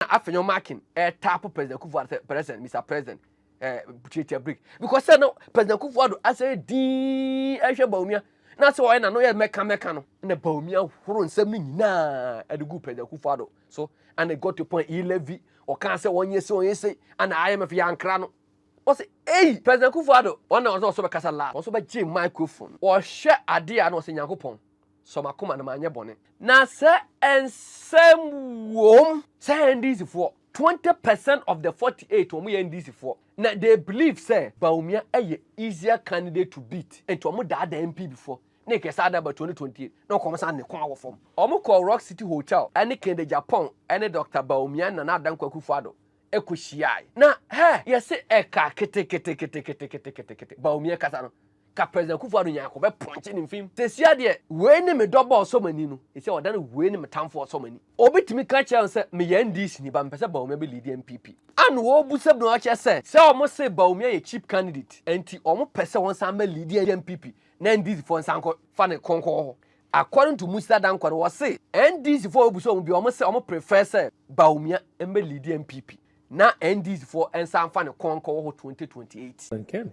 na afei ɔmo akin ɛtaapo president kufu ado sɛ president mr president ɛɛ tiatia break because sɛ no president kufu ado asɛ dii ɛhwɛ bawumia na sɛ ɔyɛ na no yɛ mɛka mɛka no na bawumia horo nsɛm no nyinaa ɛde gu president kufu ado so and it got to point he levy ɔkaa sɛ wɔn yɛ se wɔn yɛ se and imf yɛ ankara no ɔsɛ eyi president kufu ado wɔn na ɔsɛ ɔsɛ bɛkasa laa wɔn nso bɛgye microphone wɔhwɛ adeɛ a na ɔsɛ nyankopɔn Sɔ m'akoma na manyɛ bɔne. Na sɛ nsɛm wom. Sɛ NDC foɔ twenty percent of the forty eight wɔn yɛ NDC foɔ na they believe sɛ Bawumia yɛ easier candidate to beat nti wɔn daadaa NPB foɔ na nka ɛsan da ba twenty twenty eight na nka wɔn san ne kɔn wɔ fam. Wɔn kɔɔ Rock City Hotel ne Kennedy Agyapong ne Doctor Bawumia ne Nana Adda Nkoa Akufo Addo kɔ hyiae na hɛ yɛse ɛka keteketeketeketeketekete Bawumia kasa no. Ka President Akufo Addo Nyarko bɛ pɔnkye ne mfem. Sesia deɛ wei ne me dɔbɔ ɔsɔ m'ani no, sesia ɔda no wei ne me tamfo ɔsɔ m'ani. Obi tumi ka kyerɛ no sɛ me yɛ NDC ni but me pɛ sɛ Bawumia bɛ leadi NPP a na wɔbu sɛ bna ɔkyerɛ sɛ sɛ wɔn se Bawumia yɛ cheap candidate ɛnti wɔn pɛ sɛ ɔnsan bɛ leadi NPP na NDC foɔ nsan kɔ fa ne kɔnkɔɔ hɔ. According to Musa Dankwah no wɔse NDC foɔ wɔbu sɛ wɔn bia wɔn se wɔn prefer sɛ Bawumia mbɛ leadi NPP na NDC foɔ nsan fa ne kɔnkɔɔ hɔ 2028.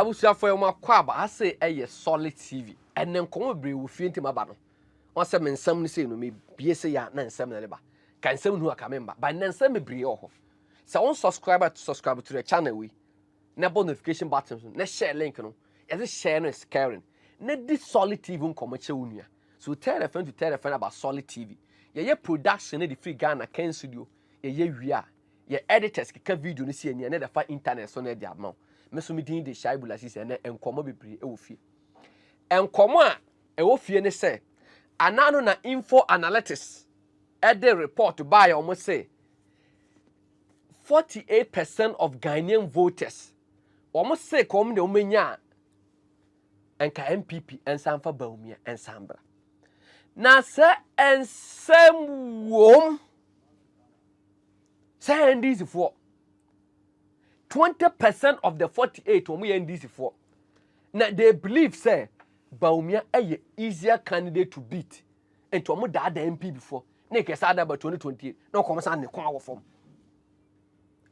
abusuafo yɛ wɔn akɔ aba ase ɛyɛ solid tv ɛnɛ nkɔmɔ bebree wɔ fie ntɛm aba no wɔn sɛ me nsɛm no sei no mebie sɛ yɛ na nsɛm na ɛde ba ka nsɛm no aka memba ba nnɛ nsɛm bebree wɔ hɔ sɛ wɔn subscribe to subscribe to the channel wei na bɔ notification button so na share link no yɛde share no is caring na di solid tv nkɔmɔ kyɛ wo nua So tɛrɛfɛn to tɛrɛfɛn aba solid TV yɛyɛ production no de firi Ghana kɛn studio yɛyɛ wie a yɛ editors keka video no si ani ɛnɛ de fa internet so na ɛde ama wo me so me din de Shaibu Lasisi ɛnɛ nkɔmmɔ bebree ɛwɔ fie nkɔmmɔ a ɛwɔ fie ne sɛ anaa no na info analytics ɛde report baayɛ wɔn se 48% of Ghanaian voters wɔn se ka wɔn de wɔn nya nka npp nsa mfa bawumia nsa mbra na sɛ nsɛm wom sɛ ndc foɔ 20 percent of the 48 wɔn yɛ ndc foɔ na they believe sɛ bawumia yɛ easier candidate to beat nti wɔn daadaa npp foɔ na nkɛsɛ adaba 2028 na wɔn san ne kɔn awɔ fam.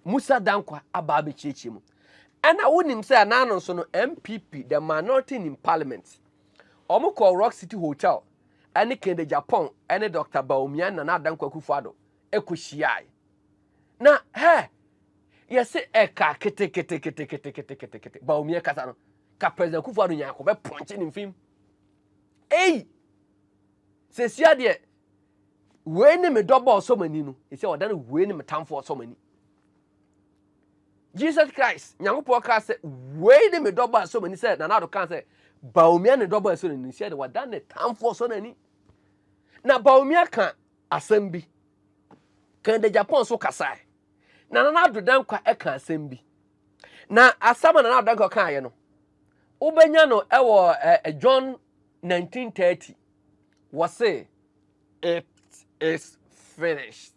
Musa Dankwa aba abɛkyiakyia mu. Ɛna wonim sɛ anaa no nso no MPP the minority in parliament wɔn kɔɔ Rock City Hotel ɛne Kennedy Japan ɛne Dr. Bawumia Nana Adanko Akufo-Addo ɛkɔhyiae na hɛ yɛse ɛka keteketeketeketeketekete Bawumia kasa no ka President Akufo-Addo nyaako bɛpɔnkye ne mfim ei sɛsia deɛ Wei ne me dɔbɔ ɔsɔ m'ani no, ɛsɛ ɔda no wei ne me tamfo ɔsɔ m'ani. Jesus Christ, Nyankopɔn kaa sɛ wei ne me dɔbɔ ɛsɔ m'ani sɛ Nana Addo kaa sɛ Bawumia ne dɔbɔ ɛsɔ n'ani sɛ de wada ne tamfo ɔsɔ n'ani. Na Bawumia ka asɛm bi. Kan de Japan so kasae. Na Nana Addo Dankwa ɛka asɛm bi. Na asɛm a Nana Addo Dankwa kaeɛ no, wobɛnya no ɛwɔ eh, John 1930 Wɔse, It is finished.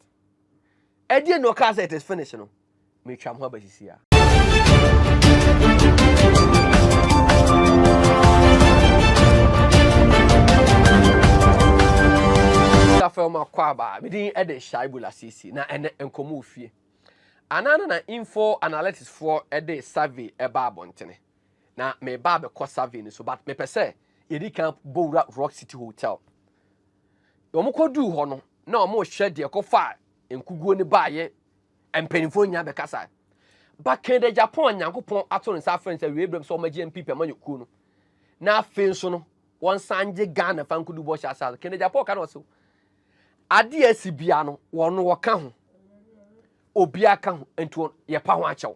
Ɛdeɛ na ɔkaa sɛ it is finished no, metwa ho abasisi a. Felma Kwaba, medin ɛde Shaibu Lasisi, na ɛnɛ nkɔmɔ ofie. Anaa na info analytics foɔ ɛde survey ɛba abɔntene. na mereba abɛkɔ survey no so but mepɛ sɛ yɛdi kan bɔ wura Rock City Hotel. Wɔkɔduu hɔ no, na wɔrehwɛ deɛ ɛkɔfaa nkuguo no baeɛ mpanimfoɔ nyinaa bɛkasa. Ba Kennedy Agyapong a Nyankopɔn ato ne nsa afrɛ no sɛ awiei berɛ mu sɛ wɔmmɛgye NPP amanyɔkuo no, na afei nso no wɔnsan gye Ghana fa nkodu bɔhyɛ asa. Kennedy Agyapong ka na ɔse adeɛ asi biara no wɔn wɔka ho obiara ka ho nti yɛpa ho akyɛw.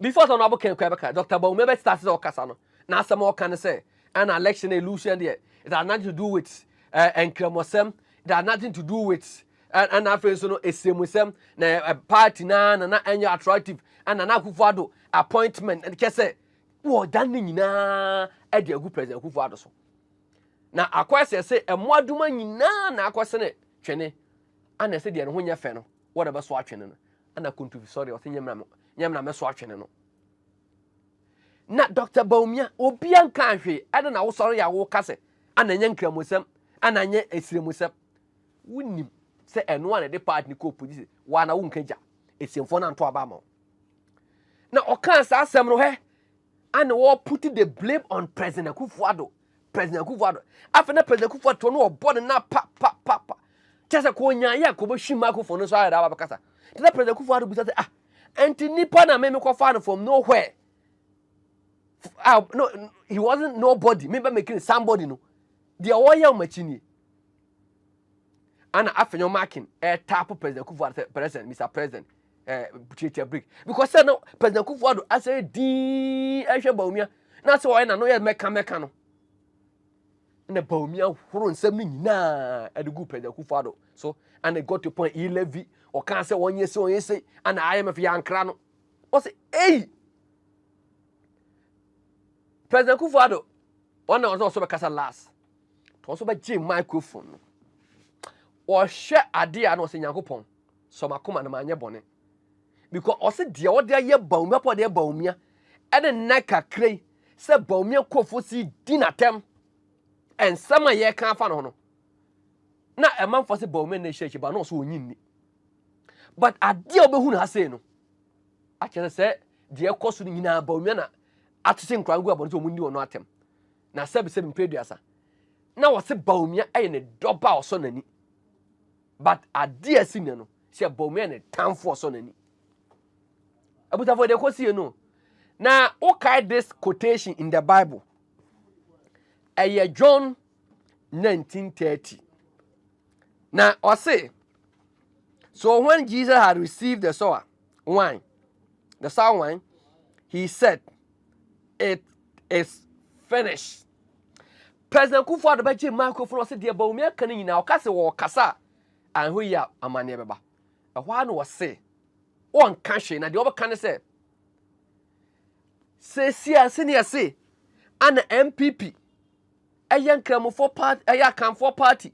Before sɛ ɔno abokan kura bɛka Doctor Bawumia bɛte ase sɛ ɔkasa no na asɛm a ɔka ne sɛ ɛna election na illusion deɛ it has nothing to do with eh, nkramɔsɛm it has nothing to do with eh, ɛna afei nso no esiamusɛm na eh, eh, party na na na ɛnyɛ attractive ɛna na akufo ado appointment ɛde kyɛ sɛ wɔdan ne nyinaa ɛde agu president akufo ado so na akɔ ɛsɛ sɛ ɛmoadoma nyinaa na akɔsene twene ana ɛsɛ deɛ ne ho nyɛ fɛ no wɔde bɛso atwene no Ɛna Kuntufi sɔre ɔsɛ nyɛ mmerɛ nyɛ mmerɛ mɛso atwene no. Na Dr. Bawumia obia nka hwee ɛna na wosɔre yɛ awo ka sɛ ana nyɛ nkramusɛm ana nyɛ esiramusɛm. Wonim sɛ ɛno a na ɛde part ne kɔɔ polisi waa na wonka gya esiemfoɔ no anto aba ama wo. Na ɔkaa saa asɛm no hɛ ana wɔputi the blame on President Akufo-Addo president akufo ado afei na president akufo ato no ɔbɔ ne na pa pa pa pa kyɛ sɛ kɔɔ nyaa yɛ kɔbɛ hwi ma akufo no so ayɛ daba bɛkasa te na president akufo ado bisa sɛ ah ɛnti nipa na me mekɔ fa no from nowhere ah no he wasn't nobody me bɛ mekiri somebody no deɛ ɔyɛ ɔmo akyi nie ana afei nyɛ marking ɛtaapo president kufu ado sɛ president mr president ɛɛ tiatia break because sɛ no president kufu ado asɛ dii ɛhwɛ bawumia na sɛ ɔyɛ na no yɛ mɛka mɛka no na bawumia horo nsɛm no nyinaa ɛde gu president kufu ado so and it got to point e levy ɔkaa sɛ wɔnyɛ sɛ ɔnyɛ sɛ ana imf yɛ ankra no ɔsɛ eyi president kufu ado ɔna ɔsɛ ɔsɛ bɛkasa last Wɔn nso bɛgye microphone no. Wɔhwɛ adeɛ a na ɔsɛ Nyankopɔn sɔ m'akoma na manyɛ bɔne. Because ɔsɛ deɛ wɔde ayɛ Bawumia pɔ deɛ Bawumia ɛne nnɛ kakra yi sɛ Bawumia nkurɔfoɔ si di n'atɛm nsɛm a yɛka afa no ho no na ɛmanfoɔ sɛ Bawumia na ɛhyɛ akyi ba na ɔsɛ ɔnyi nni. But adeɛ a wɔbɛhu no ha sei no akyerɛ sɛ deɛ ɛkɔ so no nyinaa Bawumia na atete nkora ngu abɔne sɛ wɔn nni wɔn atɛm. na sɛbisɛbi mpɛ aduasa na wɔse Bawumia yɛ ne dɔba a ɔsɔ n'ani but adeɛ asi nnɛ no sɛ Bawumia yɛ ne tamfo ɔsɔ n'ani abusafoɔ deɛ kɔsie no na wokae this quotation in the bible ɛyɛ john 1930 na ɔse so when jesus had received the sower wine, the sour wine, he said, It is finished. President Kufuor de bɛgye microphone ɔsɛ deɛ Bawumia aka no nyinaa ɔka sɛ wɔkasa a anhwɛ yi a amanneɛ bɛba. Ɛhɔ ara na ɔse wɔnka hwee na deɛ ɔbɛka ne sɛ seesie a sɛnea ɛse ana MPP ɛyɛ nkramofoɔ party ɛyɛ akanfoɔ party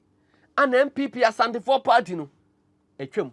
ana MPP asantefoɔ party no atwam.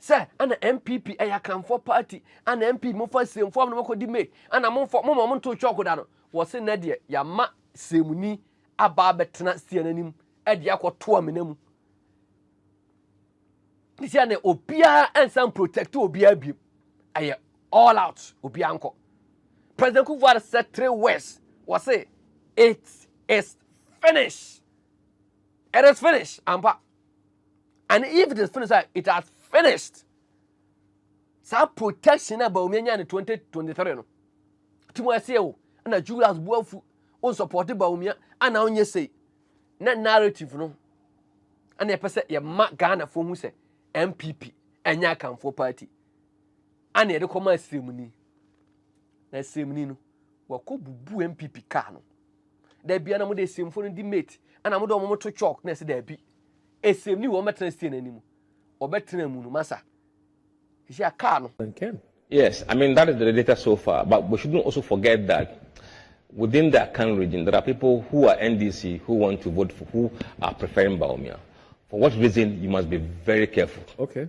Sɛ ɛna NPP ɛyɛ akanfoɔ party ɛna NPP mo fa siremfoɔ no mo kɔ di May ɛna mo nfɔ mo ma ɔmo nto chalk da no wɔ se nɛ deɛ yama siremuni aba abɛtena stia n'anim ɛde akɔ to amena mu sisi ɛna obiara ɛnsan protect obiara biem ɛyɛ all out obiara nkɔ President Kufuor sɛ three words wɔ se it is finished it is finished ampa. and if it is finished a it has finished saa protection a bawumia nya ne 2023 no ti mu ɛsɛ o ɛna julius buafu o support bawumia ana ɔnyɛ sei na narrative no ɛna ɛpɛ sɛ yɛma ghana fo hu sɛ mpp ɛnyɛ akanfoɔ party ana yɛde kɔma asiremuni na asiremuni no wɔkɔ bubu mpp kaa no da bia na mo de esemfo no di mate ana mo de wɔn to chalk na ɛsɛ daabi esem ni wɔn bɛtena steer n'anim ɔbɛtena mu no masa sisi a kaa no. Yes, I mean that is the data so far, but we shouldn't also forget that within the Akan region there are people who are NDC who want to vote for who are preferring Baumia. For what reason you must be very careful. Okay.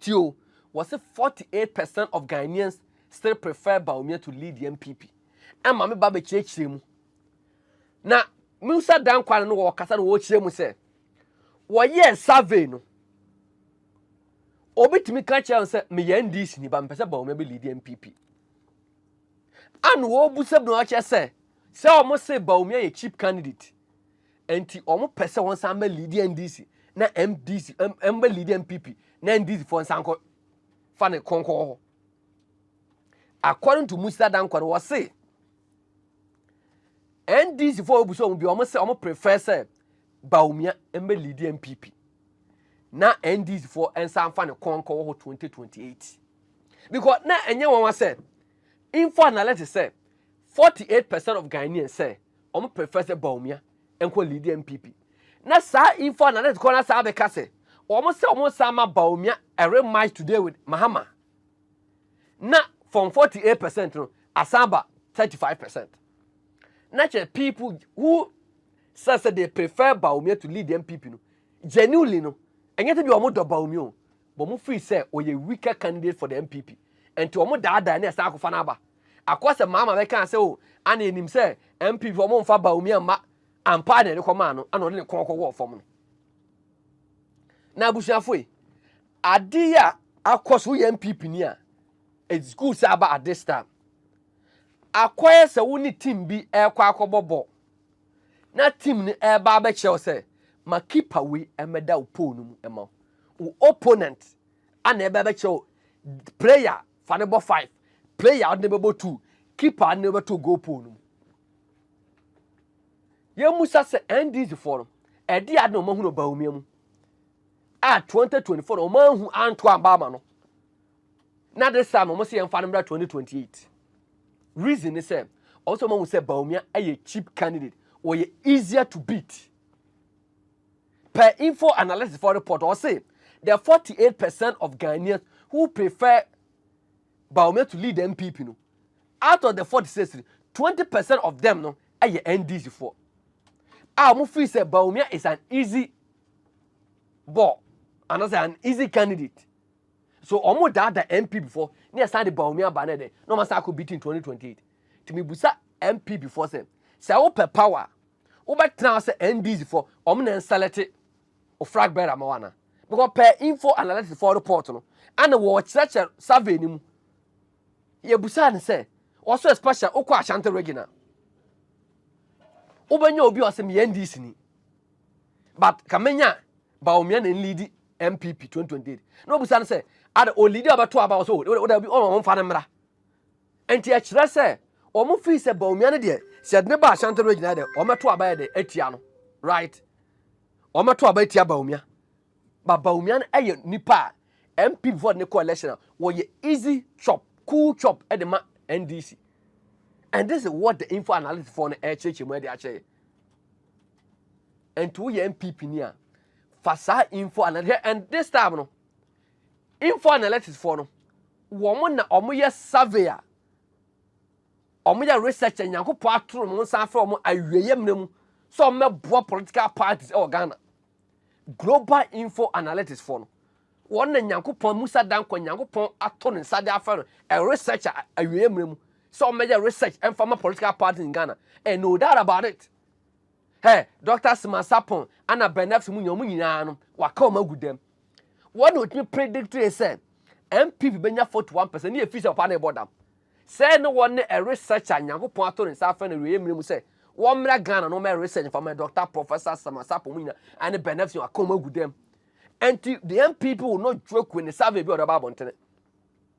Ti o, wɔse 48 percent of Ghanaians still prefer Bawumia to lead the NPP. Ɛma me ba bɛkyerɛkyerɛ mu. Na Musa Dankwa no wɔ ɔkasa no wɔkyerɛ mu sɛ wɔyɛɛ survey no obi tumi ka kyerɛ no sɛ meyɛ NDC ni ba mepɛ sɛ Bawumia bɛ lead NPP. Ano wɔbusa bi na wɔkyerɛ sɛ sɛ wɔn se Bawumia yɛ cheap candidate. Nti wɔn pɛ sɛ wɔn san bɛ lead NDC na MDC wɔn bɛ lead NPP na NDC fo nsan kɔ fa ne kɔnkɔ hɔ. According to Musa Dankwa no wɔ se NDC fo obuso wɔn bi wɔn sɛ wɔn prefer sɛ Bawumia mbɛ lead NPP na NDC fo nsan fa ne kɔnkɔ wɔ hɔ 2028 because na ɛnyɛ wɔn asɛ info analysis sɛ 48% of Ghanaians sɛ wɔn prefer sɛ Bawumia nkɔ lead NPP na saa info analyst kɔ na saa bɛka sɛ wɔn sɛ wɔn san ma Bawumia a rematch today with Mahama na from 48 percent no asan ba 35 percent na kyerɛ people who say sɛ they prefer Bawumia to lead NPP no genuinely no ɛnyɛ sɛ bi wɔn dɔ Bawumia o wɔn feel sɛ ɔyɛ weaker candidate for the NPP nti wɔn daadaa ne ɛsan akɔfa n'aba. Akɔ sɛ Mahama bɛkaa sɛ oh ana yɛnim sɛ NPP wɔn mfa Bawumia mma ampa na yɛde kɔmaa no ana ɔde ne kɔn kɔwɔɔ fam no. Na abusuafo yi ade yi a akɔ so woyɛ NPP ni a it's good sɛ aba at this time. Akɔyɛ sɛ wo ne team bi ɛrekɔ akɔbɔ bɔ na team no ɛreba abɛkyerɛ wo sɛ ma keeper wei ɛmɛda wo pole no mu ɛma wo opponent ana ɛbɛbɛkyerɛ wo player Fa no bɔ five. Player a ɔde no bɛbɔ two. Keeper a ɔde no bɛto goal pole no mu. Yɛmmusa sɛ NDC foɔ no, ɛde ade na wɔn ahunu Bawumia mu a 2024 na wɔn ahu anto amba ama no. Na de saa na wɔn sɛ yɛmfa no mmra 2028. Reason ne sɛ wɔn sɛ wɔn ahu sɛ Bawumia yɛ cheap candidate, wɔyɛ easier to beat. Per info analysis for report, ɔse the 48 percent of Ghanaians who prefer Bawumia to lead the NPP no, out of the 46 no, 20 percent of them no ɛyɛ NDC foɔ a wɔn feel sɛ Bawumia is an easy ball anaasɛ an easy candidate so wɔn daadaa NPP foɔ ne ɛsan de Bawumia ba ne de na wɔn asan akɔ beating 2028 tumi busa NPP foɔ sɛ sɛ wopɛ power. wobɛtena hɔ sɛ NDC fo wɔn na nselɛte o flag bearer ma wana because per info analysis for report no ana wɔkyerɛkyerɛ survey no mu yɛbusaa no sɛ wɔso especially wokɔ Ashanti region a wobɛnya obi a ɔsɛ meyɛ NDC ni but kamenya Bawumia na nlidi MPP 2028 na obusa no sɛ ada olidi a ɔbɛto aba ɔsɛ wode bi ɔma wɔmfa no mmra Enti ɛkyerɛ sɛ wɔn fii sɛ Bawumia no deɛ sɛ ɛde ne ba Ashanti region ha deɛ wɔmɛto aba yɛ de atia no right wɔmɛto aba atia Bawumia ba Bawumia no ɛyɛ nipa a MP vote ne kɔ election a wɔyɛ easy chop cool chop ɛde ma NDC and this is what the info analyst for no ɛkyerɛkyerɛ mu ɛde akyerɛ nti woyɛ NPP ni a fa saa info analyst and this time no Info analytics foɔ no, wɔn na wɔyɛ survey a wɔyɛ research a Nyankopɔn atoro wɔn nsa afrɛ wɔn awieeɛ mmerɛ mu sɛ wɔmmɛboa political parties wɔ Ghana. Global info analytics foɔ no, wɔn na Nyankopɔn Musa Dankwa Nyankopɔn ato ne nsa de afrɛ no a research a awieeɛ mmerɛ mu sɛ wɔmmɛyɛ research ɛmfa ma political parties in Ghana and no doubt about it. Hɛ, Dɔkta Sima Sarpong na Bernard Sumunyi, wɔn nyinaa no, wɔaka wɔn agu dam. Wɔn na wɔtumi predictee sɛ NPP bɛnya 41 percent ne efiri sɛ papa no rebɔ dam. Sɛɛ ne wɔn ne research a Nyankopɔn ato ne nsa afrɛ no awieeɛ mmerɛ mu sɛ wɔmmra Ghana na wɔmmɛ research mfa mma Dɔkta Professor Sima Sarpong mu nyinaa ne Bernard Sumunyi wɔaka wɔn agu dam. Ɛnti the NPP will not joke with the survey bi a wɔde aba abɔntene.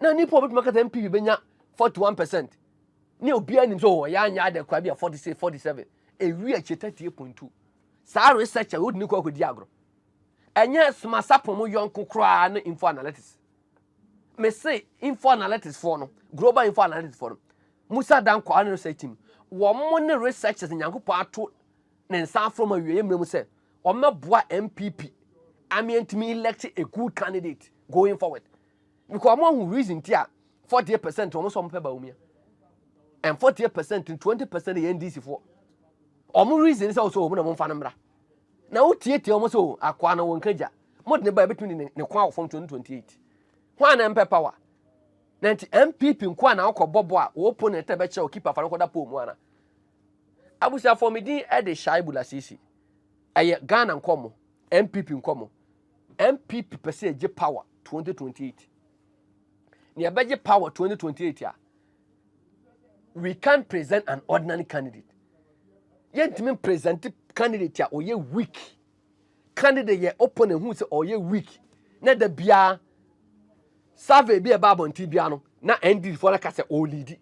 Na nnipa a wɔbɛtumi aka sɛ NPP bɛnya 41 percent ne obiara nim sɛ wɔyɛ anyɛ adɛ koraa bi a 46 47 ɛwi akyire 38 point 2 saa research a wode ne kɔ akɔdi agorɔ ɛnyɛ smasapɔn mu yɔnko koraa ne info analytics me se info analytics foɔ no global info analytics foɔ no musa dan kɔ ne research team wɔn ne researchers nyankopɔn ato ne nsa aforo ma wieɛ mmerɛ mu sɛ wɔmɛboa mpp ameɛntumi elect a good candidate going forward Because ọmụ ahụ reason ti a 48 percent ọmụ sọ ọmụ pẹ Bawumia and 48 percent 20 percent yɛ NDC foɔ. Ọmụ reason sɛ ɔsɛ ọmụ na mfa no mmra. Na wotietie ọmụ sɛ o akoa no wɔnka gya. Mode ne ba ebetumi de ne kwan wɔ fam 2028. Hwan na mpɛ power? Na nti MPP nko a na ɔkɔ bɔbɔ a wɔ opponent na bɛkyerɛ o keep afa no kɔda poll mu ana. Abusuafoɔ me din de Shaibu Lasisi. Ɛyɛ Ghana nkɔmmɔ, MPP nkɔmmɔ. NPP pɛ sɛ ɛgye power 2028. Nea ɛbɛgye power 2028 a, we can't present an ordinary candidate. Yɛntumi present candidate a ɔyɛ weak. Candidate yɛ opponent hu sɛ ɔyɛ weak. Na da biara survey bi a ɛba abɔnten biara no, na NDD foɔ no ka sɛ ɔɔlidi.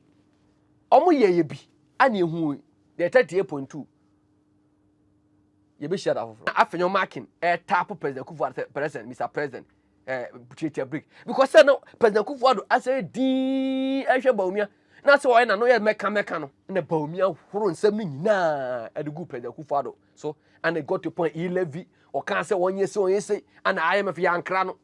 Wɔyɛeɛ bi a na ɛhu deɛ 38.2 yɛbɛhyia da foforɔ afei nyɛ makin ɛtapo eh, president kufu ado sɛ president mr president ɛɛ eh, tiatia break because sɛ no president kufu ado asɛ dii ɛhwɛ bawumia na sɛ ɔyɛ n'ano yɛ mɛka mɛka no na bawumia horo nsɛm no nyinaa ɛde gu president kufu ado so and it got to point he levy ɔkaa sɛ wɔnyɛ sɛ ɔnyɛ sɛ ana imf yɛ ankra no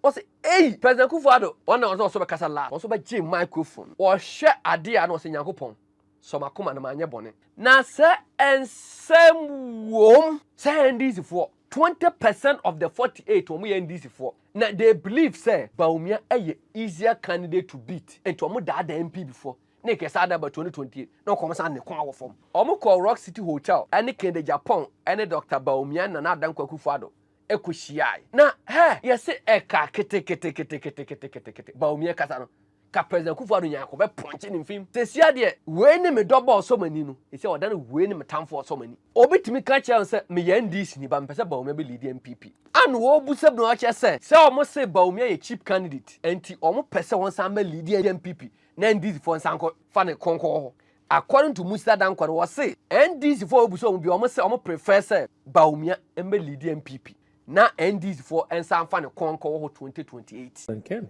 ɔsɛ eyi president kufu ado wɔn na ɔsɛ ɔsɛ bɛkasa last ɔsɛ bɛgye microphone wɔhwɛ adeɛ a na ɔsɛ nyankopɔn Sɔ m'akoma na manyɛ bɔne. Na sɛ nsɛm wom. Sɛ NDC foɔ twenty percent of the forty eight wɔn yɛ NDC foɔ na they believe sɛ Bawumia yɛ easier candidate to beat nti wɔn daadaa NPB foɔ ne kɛ saa da ba twenty twenty eight na wɔkɔ wɔn san ne kɔn wɔ fam. Wɔn kɔɔ Rock City Hotel ne Kennedy Agyapong ne Doctor Bawumia ne Nana Adda Nko Akufo Addo kɔ hyiae na hɛ yɛse ɛka keteketeketeketeketekete Bawumia kasa no. Ka President Akufo Addo Nyarko bɛ pɔnkye ne mfem. Sesia deɛ wei ne me dɔbɔ ɔsɔ m'ani no, sesia ɔda no wei ne me tamfo ɔsɔ m'ani. Obi tumi ka kyerɛ no sɛ me yɛ NDC ni but me pɛ sɛ Bawumia bɛ leadi NPP a na wɔbu sɛ bna ɔkyerɛ sɛ sɛ wɔn se Bawumia yɛ cheap candidate ɛnti wɔn pɛ sɛ ɔnsan bɛ leadi NPP na NDC foɔ nsan kɔ fa ne kɔnkɔ wɔ hɔ. According to Musila Dankwah no wɔse NDC foɔ a wɔbu sɛ wɔn bia wɔn se wɔn prefer sɛ Bawumia mbɛ leadi NPP na NDC foɔ nsan fa ne kɔnkɔ wɔ hɔ 2028. Nkem